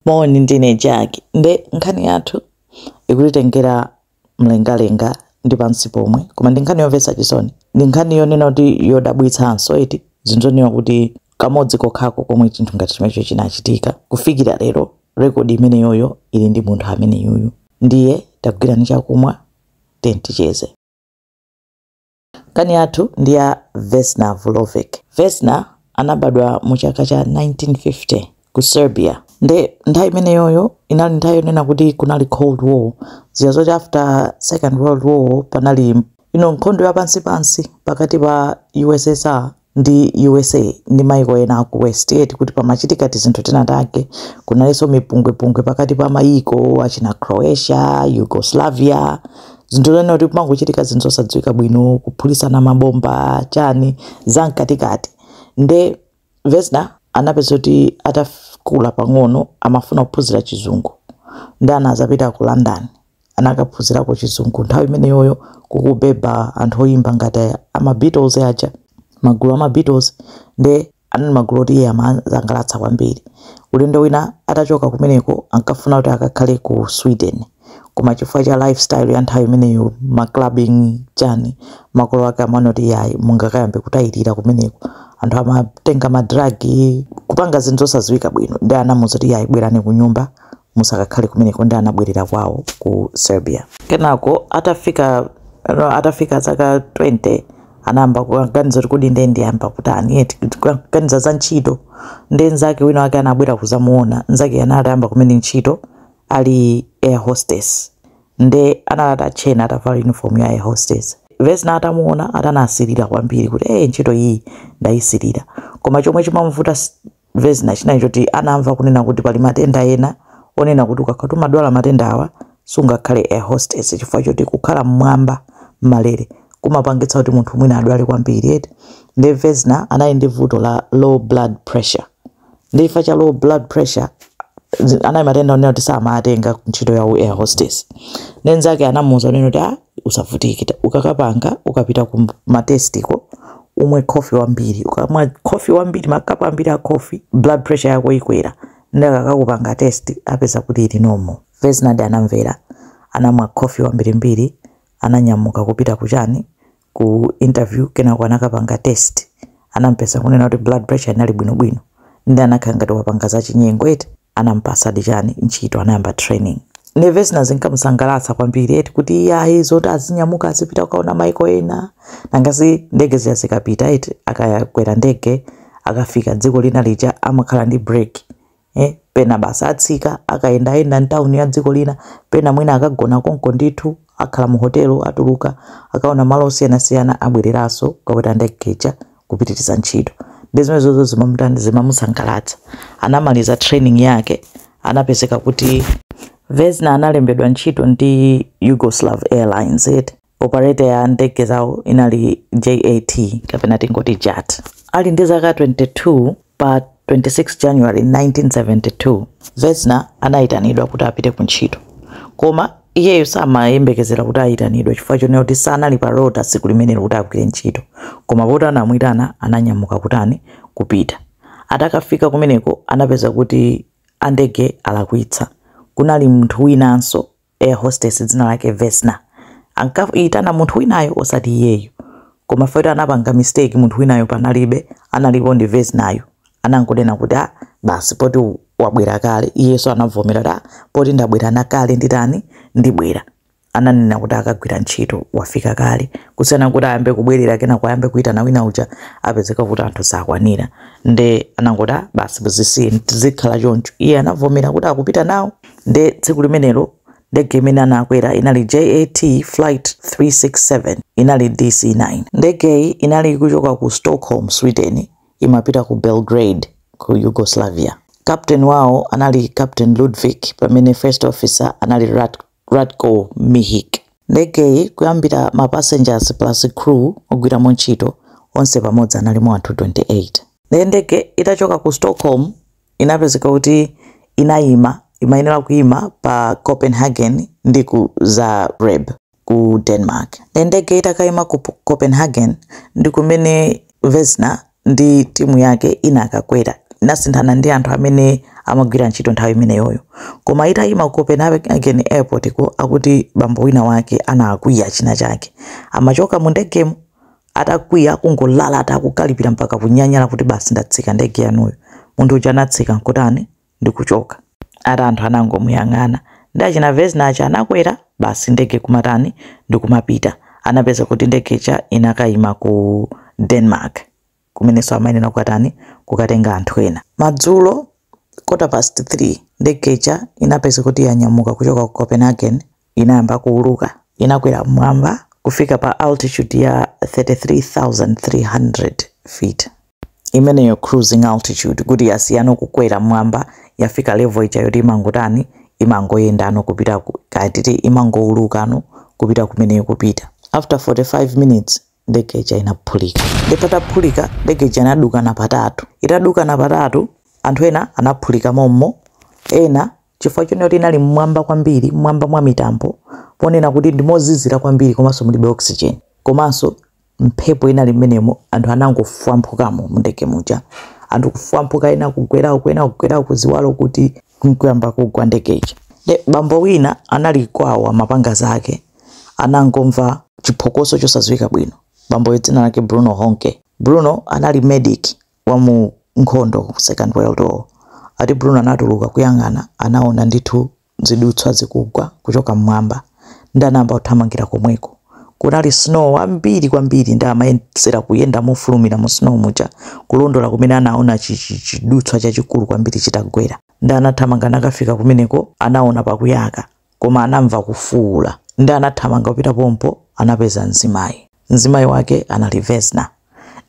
Moni, ndine Jack. Nde nkhani yathu ikutitengera mlengalenga ndi pansi pomwe, koma ndi nkhani yomvetsa chisoni. Ndi nkhani yonena kuti yodabwitsanso eti, zinthu zonena kuti kamodzi kokhako komwe chinthu ngati chimenecho chinachitika. Kufikira lero, rekodi imeneyoyo ili ndi munthu ameneyuyu. Ndiye tagwirani chakumwa, tiyeni ticheze. Nkhani yathu ndi ya Vesna Vulovic. Vesna anabadwa mu chaka cha 1950 ku Serbia. Nde nthawi imeneyoyo inali nthawi yonena kuti kunali Cold War. Zija zoti after Second World War panali you know nkhondo ya pansi pansi pakati pa USSR ndi usa ndi maiko ena aku west eti kuti pamachitika tizinthu tina take kunalinso mipungwepungwe pakati pa maiko achina croatia yugoslavia zinthu zonena kuti kumangochitika zinthu zosadziwika bwino kuphulitsana mabomba chani za mkatikati nde vesna anapezeka kuti atakula pang'ono amafuna kuphunzira chizungu nde anazapita ku london anakaphunzirako chizungu nthawi imeneyoyo kukubeba anthu oyimba ngati ama Beatles aja magulu ama Beatles nde anali magulu oti iye amamusangalatsa kwambiri ulendo wina atachoka kumeneko ankafuna kuti akakhale ku Sweden koma chifukwa cha lifestyle ya nthawi imeneyo ma clubbing chani makolo ake amaona kuti yayi mungakayambe kutayirira kumeneko anthu amatenga madragi kupanga zinthu zosadziwika bwino nde anamuuza kuti yayi bwerani ku nyumba musakakhale kumeneko nde anabwerera kwawo ku Serbia. Kenako atafika no, atafika zaka 20 anayamba kuganiza kuti kodi ndiye ndiyamba kutani eti kuganiza za ntchito nde nzake wina wake anabwera kuzamuona nzake anayamba kumene ntchito ali air hostess nde anali atatchena atavala uniform ya air hostess vesna atamuona anasirira kwambiri kuti eh ntchito iyi ndayisirira koma chomwe chimamuvuta s- vesna chinali choti anamva kunena kuti pali matenda ena onena kuti ukakhala kuti umadwala matenda awa sungakhale air hostess chifukwa choti kukhala mmwamba mmalere kumapangitsa kuti munthu mwina adwale kwambiri eti nde vesna anali ndi vuto la low blood pressure nde chifukwa cha low blood pressure zi- anali matenda onena kuti samatenga ntchito ya u air hostess nde nzake anamuuza kunena kuti ah usavutike ta- ukakapanga ukapita ku ma test ko umwe khofi wambiri ukamwa khofi wambiri makapu ambiri a khofi blood pressure yako ikwera nde akakakupanga test apeza kuti ili normal vesnadi anamvera anamwa khofi wambirimbiri ananyamuka kupita kuchani ku interview kenako anakapanga test anampeza kunena kuti blood pressure inali bwinobwino nde anakhala ngati wapanga zachinyengo eti anamupatsadi chani ntchito anayamba training nde Vesna zinkamusangalatsa kwambiri eti kuti iyayi zoti azinyamuka azipita kukaona maiko ena nangasi ndege zija zikapita eti akakwera ndege akafika dziko lina lija amakhala ndi break eh, pena basi atsika akayendayenda mtawuni ya dziko lina pena mwina akagona konko ndithu akhala mu hotelo atuluka akaona malo osiyanasiyana abwereranso kukakwera ndege ija kupitiriza ntchito ndi zimenezozo zimamutani zimamusangalatsa anamaliza training yake anapezeka kuti vesna analembedwa ntchito ndi yugoslav airlines eti operator ya ndege zawo inali jat kapena tingoti jat ali ndi zaka 22 Pa 26 January 1972, Vesna anaitanidwa kuti apite kuntchito. Koma iyeyo samayembekezera kuti aitanidwe chifukwa chonena kuti sanali pa rota tsiku limenelo kuti agwire ntchito. Koma poti anamuitana ananyamuka kutani? Kupita. Atakafika kumeneko anapeza kuti andege alakwitsa. Kunali munthu winanso air hostess dzina lake vesna ankayitana munthu winayo osati iyeyo koma poti anapanga mistake munthu winayo panalibe analipo ndi vesnayo anangonena kuti a basi poti u- wabwera kale iyenso anavomera kuti "Ah, poti ndabwera kale nditani ndibwera ananena kuti akagwira ntchito wafika kale kusiyana kuti ayambe kubwerera kenako ayambe kuyitana wina uja apezeka kuti anthu sakwanira nde anangoti "Ah, basi zisiye zikhale choncho iye anavomera kuti akupita nawo nde tsiku limenelo ndege imene anakwera inali JAT flight 367 inali DC-9 ndegeyi inali ikuchoka ku Stockholm, Sweden imapita ku Belgrade ku Yugoslavia captain wawo anali Captain Ludvig pamene first officer anali Ratko Mihic ndegeyi kuyambira ma passengers plus crew ogwiramo ntchito onse pamodzi analimo anthu 28 nde ndege itachoka ku Stockholm inapezeka kuti inayima, imayenera kuyima pa Copenhagen ndi ku Zagreb ku Denmark. Nde ndege itakayima ku Copenhagen ndi kumene Vesna ndi timu yake inakakwera, inasinthana ndi anthu amene amagwira ntchito nthawi imeneyoyo. Koma itayima ku Copenhagen airport ko akuti bambo wina wake anakwiya chinachake. Amachoka mu ndegemo atakwiya kungolalata akukalipira mpaka kunyanyala kuti basi ndatsika ndege yanuyo munthu uja anatsika nkutani ndikuchoka ati anthu anangomuyang'ana ndi achina vesna aja anakwera basi ndege kumatani ndikumapita anapeza kuti ndege ija inakayima ku denmark kumenenso amayenera kukatani kukatenga anthu ena madzulo quarter past 3 ndege ija inapeza kuti yanyamuka kuchoka ku copenhagen inayamba kuuluka. Inakwera m'mwamba kufika pa altitude ya 33,300 feet, imeneyo cruising altitude, kuti yasiyano kukwera m'mwamba yafika level ija yoti imangotani, imangoyendano kupita ku, kaya titi imangoulukano kupita kumene ikupita. After 45 minutes ndege ija inaphulika. Nde pataphulika ndege ija inaduka na patatu. Itaduka na patatu, anthu ena anaphulika mommo, ena chifukwa chonena kuti inali mmwamba kwambiri mmwamba mwa mitambo ponena kuti ndi mozizira kwambiri komanso mulibe oxygen komanso mphepo inali mmenemo anthu anangofwamphukamo mundege muja anthu kufwamphuka ena kugwera uku ena kugwera uku ziwalo kuti nkuyamba kugwa ndege ija nde bambo wina anali kwawo amapanga zake anangomva chiphokoso chosadziwika bwino bamboyo dzina lake Bruno Honke bruno anali medic wa mu nkhondo second world war ati bruno anatuluka kuyang'ana anaona ndithu zidutswa zikugwa kuchoka mmwamba ndi anayamba kuthamangira komweko kunali snow wambiri kwambiri ndi amayesera kuyenda mofulumira mu snow muja kulondola kumene anaona chi- chi- chidutswa chachikulu kwambiri chitagwera ndi anathamanga nakafika kumeneko anaona pakuyaka Koma anamva kufuula nde anathamanga kupita pompo anapeza mzimayi. Mzimayi wake anali Vesna.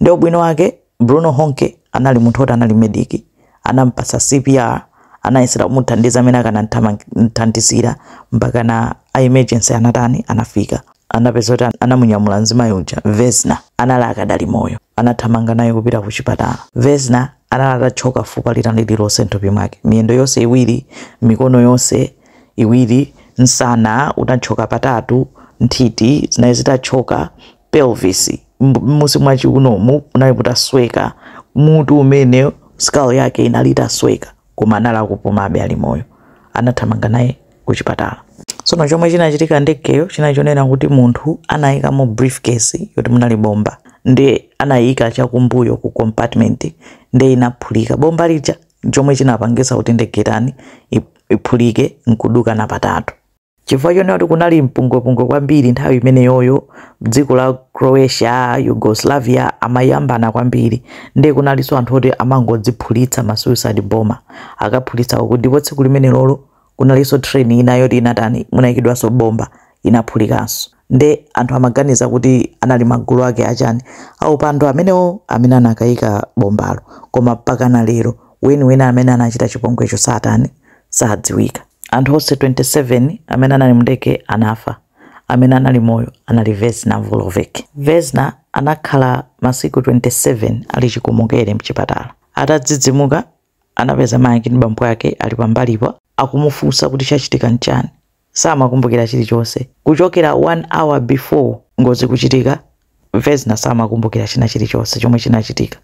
Nde ubwino wake Bruno Honke anali munthu oti anali medic, anampatsa CPR, anayesera kumuthandiza mmene akanamuthandizira mpakana a emergency anatani, anafika. Anapeza kuti anamunyamula mzimayi uja, Vesna, anali akadali moyo. Anathamanga naye kupita kuchipatala. Vesna anali atatchoka fupa lina lililonse mthupi mwake, miyendo yonse iwiri, mikono yonse iwiri, nsana unatchoka patatu, nthiti zinayi zitatchoka, pelvis munsi mwa chiunomu munali mutasweka, mutu umene skull yake inali itasweka, koma anali akupumabe ali moyo. Anathamanga naye ku chipatala tsono chomwe chinachitika ndegeyo chinali chonena kuti munthu anayikamo briefcase yoti munali bomba ndi anayika chakumbuyo ku compartment ndi inaphulika bomba lija chomwe chinapangisa kuti ndege itani iphulike nkuduka na patatu chifukwa chonena kuti kunali mpungwepungwe kwambiri nthawi imeneyoyo dziko la croatia yugoslavia amayambana kwambiri ndi kunalinso anthu oti amangodziphulitsa ma suicide bomber akaphulitsa uku ndipo tsiku limenelolo kunalinso train ina yoti inatani munaikidwanso bomba inaphulikanso nde anthu amaganiza kuti anali magulu ake achani aupandu amenewo amene anakaika bombalo koma mpakana lero weniweni amene anachita chipongwecho satani sadziwika anthu onse 27 amene anali mndege anafa amene anali moyo anali vesna vulovic vesna anakhala masiku 27 ali chikomokere mchipatala atadzidzimuka anapeza mayi ndi bambo ake ali pambalipa akumufunsa kuti chachitika nchani samakumbukira chilichonse kuchokera 1 hour before ngozi kuchitika vesna samakumbukira china chilichonse chomwe chinachitika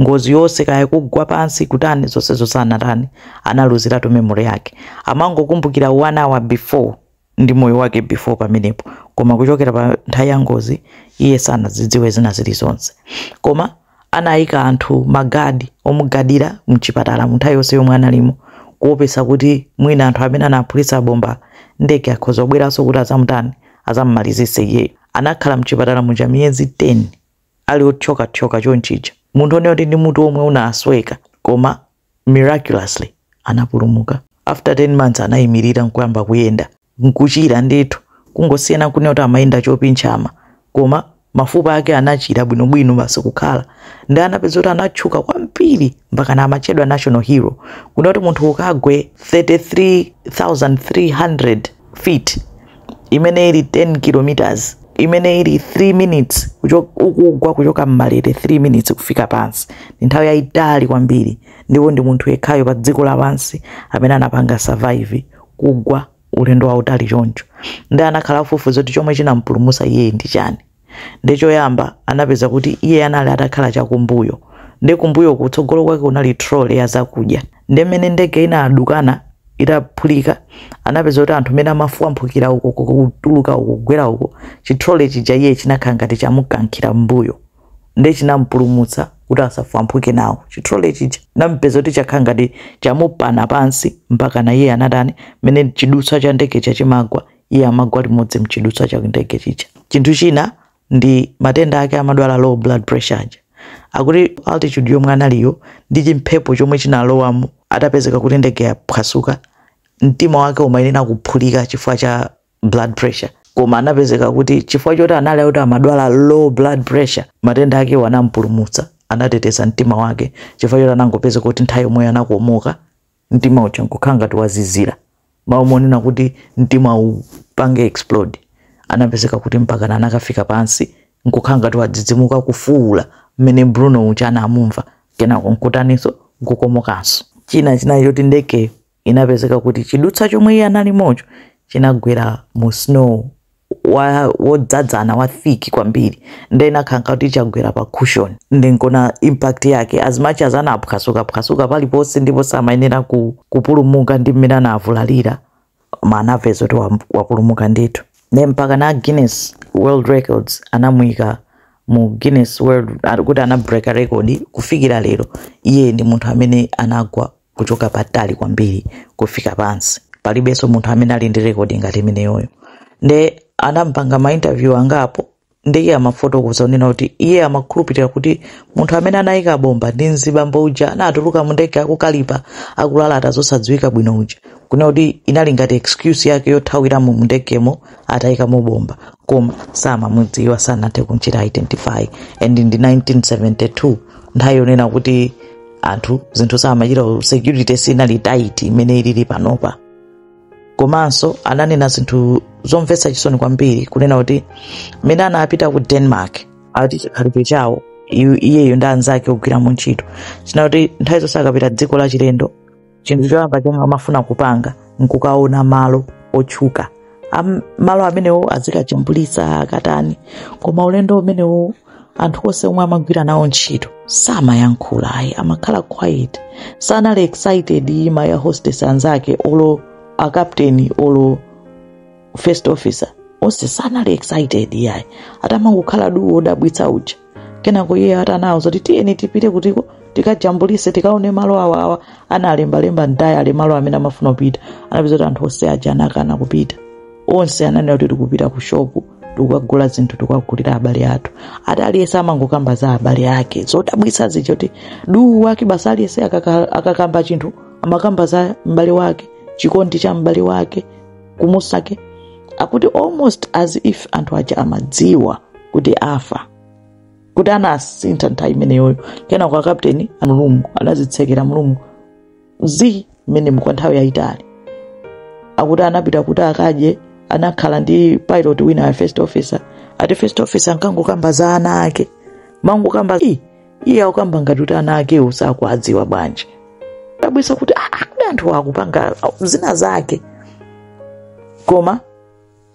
ngozi yonse kaya kugwa pansi kutani zonsezo sanatani analuziratu memory yake amangokumbukira 1 hour before ndi moyo wake before pamenepo, koma kuchokera pa nthawi ya ngozi iye sanazidziwe zina zilizonse. Koma anayika anthu magadi omugadira mchipatala mu nthawi yonse yomwe analimo kuopesa kuti mwina anthu amene anaphulitsa bomba ndege akhoza kubweranso kuti azamutani azamumalizitse iyeyo. Anakhala mchipatala muja miyezi 10 ali othyokathyoka chonchija, munthu onena kuti ndi mutu womwe unasweka koma miraculously anapulumuka. After 10 months anayimirira nkuyamba kuyenda nkuchira ndithu kungosiyana kunena kuti amayenda chopinchama koma mafupa ake anachira bwinobwino basi kukhala nde anapeza kuti anatchuka kwambiri mpakana amatchedwa national hero kunena kuti munthu ukagwe 33300 feet imene ili 10 km imene ili 3 minutes ukugwa kuchoka mmalele 3 minutes kufika pansi ndi nthawi yayitali kwambiri ndipo ndi munthu yekhayo pa dziko lapansi amene anapanga survive kugwa ulendo wautali choncho nde anakhala akufufuza kuti chomwe chinampulumutsa iyeyi ndi chani Ndiye choyamba anapeza kuti iye anali atakhala chakumbuyo. Ndiye kumbuyo kutsogolo kwake kunali trolley ya zakudya. Ndiye mmene ndege inadukana itaphulika anapeza kuti anthu mmene amafwamphukira uko kutuluka uko kugwera uko chitrole chija iye chinakhala ngati chamukankhira mbuyo ndiye chinampulumutsa kuti asafwamphuke nawo chitrole chija anapeza kuti chakhala ngati chamupana pansi mpakana iye anatani mmene chidutswa cha ndege chija chimagwa iye amagwa limodzi mchidutswa cha ndege chija chinthu china ndi matenda ake amadwala low blood pressure aja akuti altitude yomwe analiyo ndi chimphepo chomwe chinalowamo atapezeka kuti ndege yaphwasuka mtima wake umayenera kuphulika chifukwa cha blood pressure koma anapezeka kuti chifukwa choti anali kuti amadwala low blood pressure matenda akewo anampulumutsa anateteza mtima wake chifukwa choti anangopezeka kuti nthawi yomweyo anakomoka mtima uja nkukhala ngati wazizira. mmalo monena kuti mtima upange explode anapezeka kuti mpakana anakafika pansi nkukhala ngati wadzidzimuka kufuwula mmene Bruno uja anamumva kenako nkutaninso nkukomokanso. China chinali choti ndegeyo inapezeka kuti chidutsa chomwe iye analimocho chinagwera mu snow wa wodzadzana wa thick kwambiri nde inakhala ngati chagwera pa cushion ndi nkona impact yake as much as anaphwasuka phwasuka paliponse ndipo samayenera ku, kupulumuka ndi mmene anavulalira ma anapeza kuti wa- wapulumuka ndithu nde mpaka na guinness world records anamuyika mu guinness world ah, kuti anabreaka record kufikira lero iye ndi munthu amene anagwa kuchoka patali kwambiri kufika pansi palibenso munthu amene ali ndi rekodi ngati imeneyoyo nde anampanga mainterview angapo ndi iye amafotokoza kunena kuti iye amakhulupirira kuti munthu amene anayika bomba ndi mzibambo uja anatuluka mu ndege akukalipa akulalata zosadziwika bwino uja kunena kuti inali ngati excuse yake yothawiramo mu ndegemo atayikamo bomba koma samamudziwa sanathe kumchita identify and ndi 1972 nthawi yonena kuti anthu zinthu samachita security sinali tight imene ilili panopa komanso ananena zinthu zomvetsa chisoni kwambiri kunena kuti mmene anapita ku denmark ati chikhalidwe chawo iyeyo ndi anzake ogwira mu ntchito chinali kuti nthawi zonse akapita dziko la chilendo chinthu choyamba chomwe amafuna kupanga nkukaona malo otchuka Am- malo amenewo azikajambulisa akatani koma ulendo umenewo anthu onse omwe amagwira nawo ntchito samayankhula ayi amakhala quiet sanali excited ma air hostess anzake olo akapteni olo first officer onse sanali excited yayi atamangokhala duu odabwitsa uja kenako iye ati anawauza kuti tiyeni tipite kuti tikajambulise tikaone malo awa awa analembalemba mtayile malo amene amafuna kupita anapeza kuti anthu onse aja anakana kupita onse ananena kuti tikupita ku shopu tikukagula zinthu tikukagulira abale athu ati aliyense amangokamba za abale ake zodabwitsa zedi akuti ulendo wake basi aliyense akaka- akakamba chinthu amakamba za m'bale wake chikondi cha m'bale wake kumusowa akuti almost as if anthu aja amadziwa kuti afa kuti anasintha nthawi imeneyoyo kenako akapteni mu room anazitsekera mu room mwawo mmenemu kwa nthawi yayitali akuti anapita kuti akadye anakhala ndi pilot wina a first officer ati first officer ankangokamba za ana ake mangokamba "Ih, iye akukamba ngati kuti ana akewo sakuadziwa bwanji zodabwisa kuti "Ah, ah, kodi anthu akupanga zina zake koma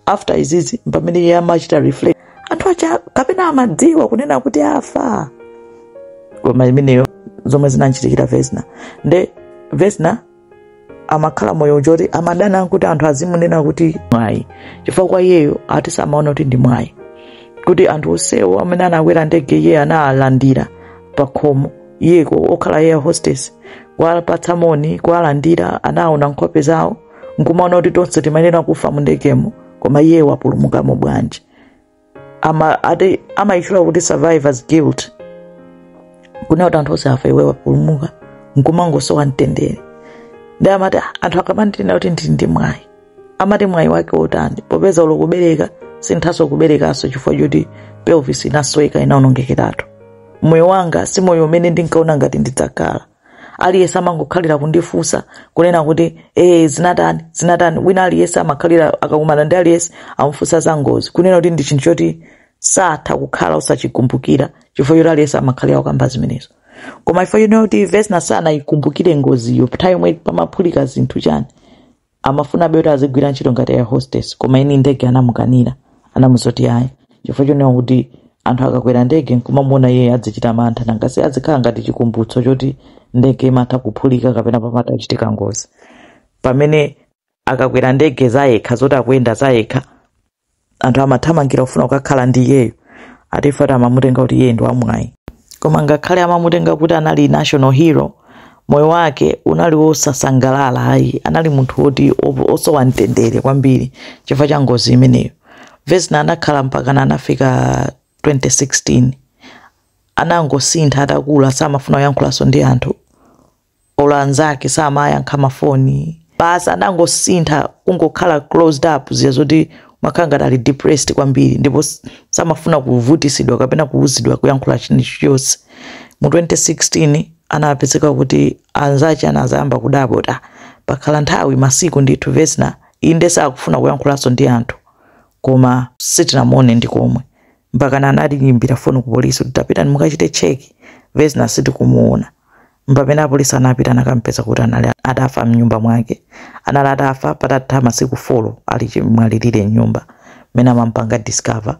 after izizi pamene iye amachita reflect anthu aja kapena amadziwa kunena kuti afa koma imeneyo zomwe zinamchitikira vesna nde vesna amakhala moyo choti amadana kuti anthu azimunena kuti mwayi chifukwa kwa iyeyo ati samaona kuti ndi mwayi kuti anthu onsewo amene anakwera ndege iye analandira pakhomo iyeko okhala air hostess kuwapatsa moni kuwalandira anaona nkhope zawo nkumaona kuti tonse timayenera kufa mu ndegemo koma iye wapulumukamo bwanji ati amayitchula kuti survivors guilt kunena kuti anthu onse afa iwe wapulumuka nkumangosowa mtendere nde amati "Ah, anthu akamandinena kuti ndili ndi mwayi amati mwayi wake otani popeza olo kubereka sinthaso kuberekanso chifukwa choti pelvis inasweka inaonongekeratu moyo wanga si moyo umene ndinkaona ngati ndidzakhala aliyense amangokhalira kundifunsa kunena kuti ee zinatani zinatani wina aliyense amakhalira akakumana ndi aliyense amufunsa za ngozi kunena kuti ndi chinthu choti satha kukhala osachikumbukira chifukwa choti aliyense amakhalira kukamba zimenezo koma chifukwa chonena kuti vesna sanayikumbukire ngoziyo nthawi yomwe pamaphulika zinthu chani Amafunabe kuti azigwira ntchito ngati air hostess koma eni ndege anamukanira. Anamuuza kuti ayi chifukwa chonena kuti anthu akakakwera ndege n'kumamuona iyeyo azichita mantha nanga si azikhala ngati chikumbutso choti ndege imatha kuphulika kapena pamatha kuchitika ngozi. Pamene akakwera ndege zayekha zoti akuyenda zayekha anthu amathamangira kufuna kukakhala ndi iyeyo ati chifukwa amamutenga kuti iye ndi wamwayi koma ngakhale amamutenga kuti anali national hero moyo wake unali wosasangalala ayi anali munthu woti osowa mtendere kwambiri chifukwa cha ngozi imeneyo vesna anakhala mpakana anafika 2016 anangosintha atakula samafuna kuyankhulanso ndi anthu olo anzake samayankha ma foni basi anangosintha kungokhala closed up zija zoti umakhala ngati ali depressed kwambiri ndipo s- samafuna kuvutisidwa kapena kuuzidwa kuyankhula chilichonse mu 2016 anapezeka kuti anzake anazayamba kudabwa kuti pakhala nthawi masiku ndithu vesna inde sakufuna kuyankhulanso ndi anthu koma sitinamuone ndi komwe, mpaka anayimbira foni ku polisi kuti tapitani mukachite cheki vesna sitikumuona Mpamene apolisi anapita n'kukamupeza kuti anali atafa mnyumba mwake. Anali atafa patatha masiku folo ali chimwalilire mnyumba. Mmene amamupanga discover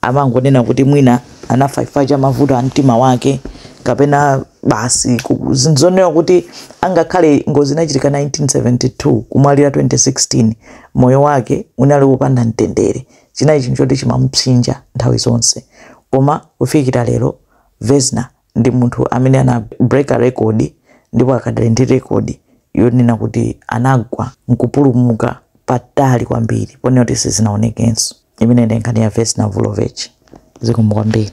amangonena kuti mwina anafa chifukwa cha mavuto a mtima wake kapena basi zinthu zonsezo kuti ngakhale ngozi inachitika 1972 kumwalira 2016 moyo wake unali wopanda mtendere. Chinali chinthu choti chimamupsinja nthawi zonse. Koma kufikira lero Vesna ndi munthu amene anabreaka record ndipo akadali ndi record yonena kuti anagwa nkupulumuka patali kwambiri ponena kuti sizinaonekenso imeneyi ndi nkhani ya Vesna Vulovic zikomo kwambiri